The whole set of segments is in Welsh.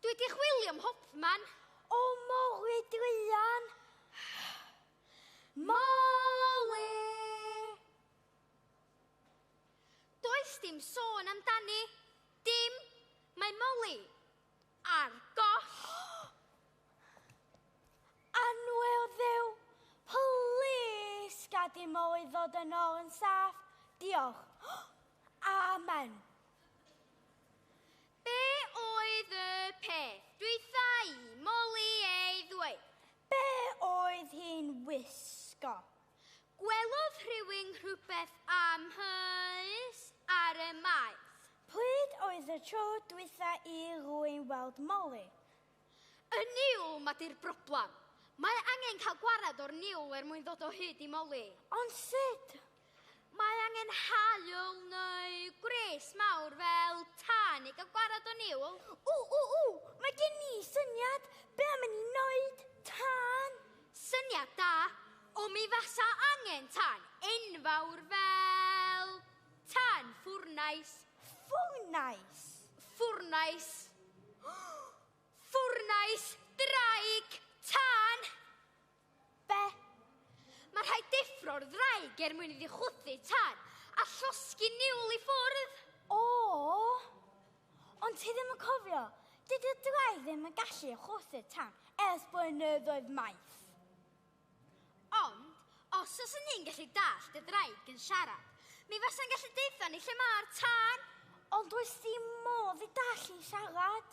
Dwi wedi chwilio am Hopman. O, Molly druan. Molly! Does dim sôn amdani. Dim. Mae Molly ar goll. Anwe o ddew, plis gad i Molly ddod yn ôl yn saff. Diolch. Amen. Be oedd y peth dwytha i Molly ei ddweud? Be oedd hi'n wisgo? Gwelodd rhywun rhywbeth am hys ar y maes. Pryd oedd y tro dwytha i rwy'n weld Molly? Y niwl, ma di'r broblem. Mae angen cael gwared o'r niwl er mwyn ddod o hyd i Molly. Ond sut? Mae angen haul neu gwres mawr fel tân i gael gwarad o niwl. O, o, o, mae gen i syniad be am i ni wneud tân. Syniad da, o mi fasa angen tân enfawr fel tân ffwrnais. Ffwrnais? Ffwrnais. Ffwrnais draig tân! Be? Mae rhaid deffro'r ddraig er mwyn iddi chwythu tad a llosgi niwl i ffwrdd. O! Ond ti ddim yn cofio, dydy ddraig ddim yn gallu chwythu tan ers blynyddoedd maith. Ond, os os yn ni'n gallu dallt y ddraig yn siarad, mi fasa'n gallu deutha ni lle mae'r tân. Ond does dim modd i dallt hi'n siarad.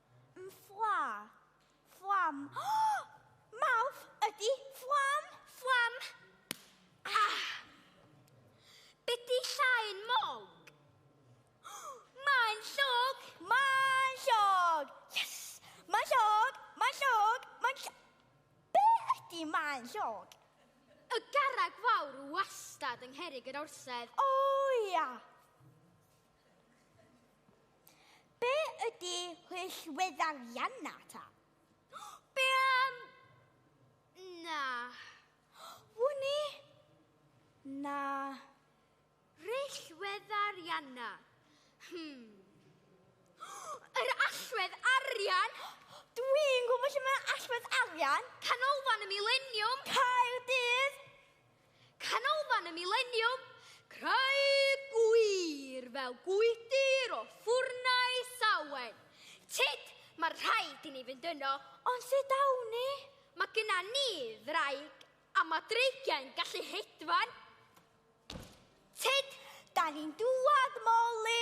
Mfla. Fflam. Mawrth ydy fflam, fflam. Ah! Beti llain mog. Mae'n llog. Mae'n llog. Yes! Mae'n llog, mae'n llog, mae'n llog. Be ydy mae'n llog? Y garreg fawr wastad yng Ngherig yr Orsedd. O ia! Be ydy hwyllweddarianna ta? Be am... Na. Wni? Na. Rhyllweddarianna. Hmm. Yr allwedd arian! Dwi'n gwybod lle mae allwedd arian. Canolfan y Mileniwm. Caerdydd. Canolfan y Mileniwm, Craig Gwir fel gwydir o ffwrnau Sawen. Tyd, mae rhaid i ni fynd yno, ond sut awn ni? Mae gyna ni ddraig, a mae dreigiau'n gallu hedfan. Tyd, da ni'n dŵad, Molly!